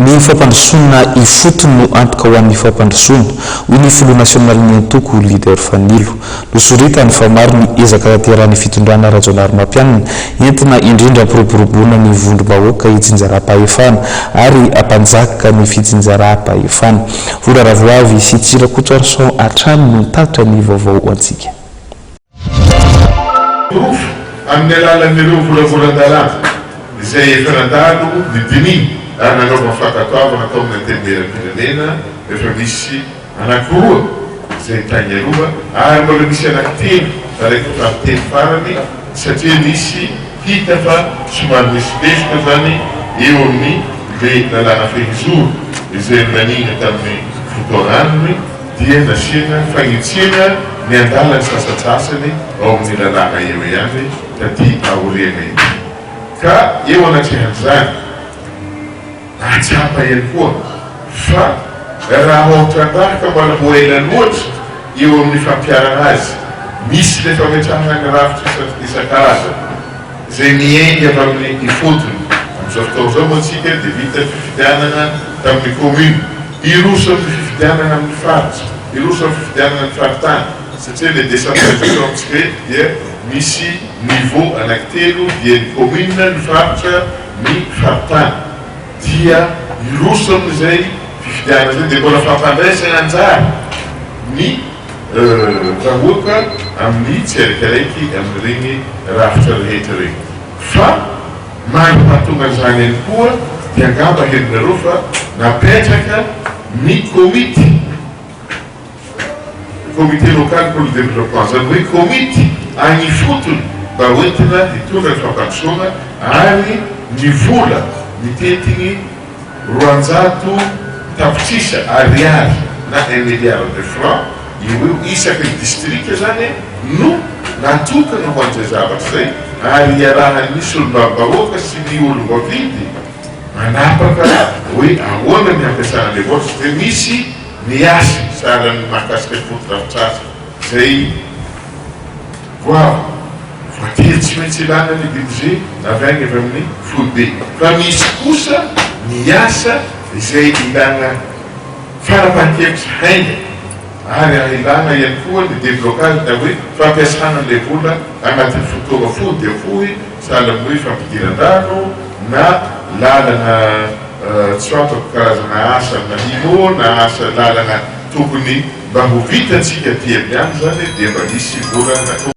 Ny fampandrosoana ifotony no antoka ho an'ny fampandrosoana, hoy ny filoha nasionalin'ny antoko, Leader Fanilo. Nosoritany fa maro ny ezaka tanterahan'ny fitondrana Rajaonarimampianina, entina indrindra hampiroboroboana ny vondrom-bahoaka itsinjaram-pahefana ary hampanjaka ny fitsinjaram-pahefana. Vondra Ravoavy sy Tsirakotsarison hatrany no nitatitra ny vaovao ho antsika. Rova amin'ny alalan'ireo volavolan-dalàna izay efa nandalo ny dinihiny ary nanaovana fankatoavana tao amin'ny Antenimierampirenena rehefa misy anankiroa izay tainga rova ary mbola misy anankitelo nalaiko tamin'ny teny farany satria misy hita fa somary misy lesoka izany eo amin'ny le lalàna fehizoro izay naningana tamin'ny fotoanany dia nasiana fanetsiana ny andalan'ny sasantsasany ao amin'ny lalàna eo ihany taty aoriana ity, ka eo anatrehan'izany nahatsapa ihany koa fa raha vao trandrahaka mbola ho ela loatra eo amin'ny fampiharana azy, misy ilay fametrahana ny rafitra isan-karazany. Izay niainga tamin'ny ifotony. Amin'izao fotoana izao moa isika dia miditra ny fifidianana tamin'ny kaominina. Hiroso amin'ny fifidianana amin'ny faritra, hiroso amin'ny fifidianana ny faritany satria ilay décentralisation amintsika eto dia misy niveau anankitelo, dia ny kaominina, ny faritra, ny faritany. Dia hiroso amin'izay fifidianana izay dia mbola fampandraisana anjara ny. vahoaka amin'ny tsiaraikaraiky amin'ireny rafitra rehetra ireny. Fa maha pahatonga an'izany ihany koa dia angamba henonareo fa napetraka ny komity, comité local pour le développement, izany hoe komity any ifotony mba hoentina hitondra ny fampandrosoana ary ny vola mitentin'ny Roanjato tapitrisa ariary na un milliard de franc eo ho eo isaky ny distrika izany no natokana ho an'izay zavatra izay ary iarahan'ny solombavambahoaka sy ny olom-baofidy manapaka hoe ahoana ny hampiasana ilay voucher dia misy ny hasiny sahalan'ny mahakasika ny fotodrafitrasa izay Goavy, voatery tsy maintsy ilana ny budget avy any avy amin'ny foibe, fa misy kosa ny asa izay ilana fanapahan-kevitra haingana ary ahilana ihany koa ny deblocage na hoe fampiasana an'ilay vola anatin'ny fotoana fohy dia fohy, sahala amin'ny hoe fampidiran-drano na lalana tsy fantako karazana asa manino na asa lalana tokony mba ho vitantsika aty amin'ny any izany dia mba misy vola natokana.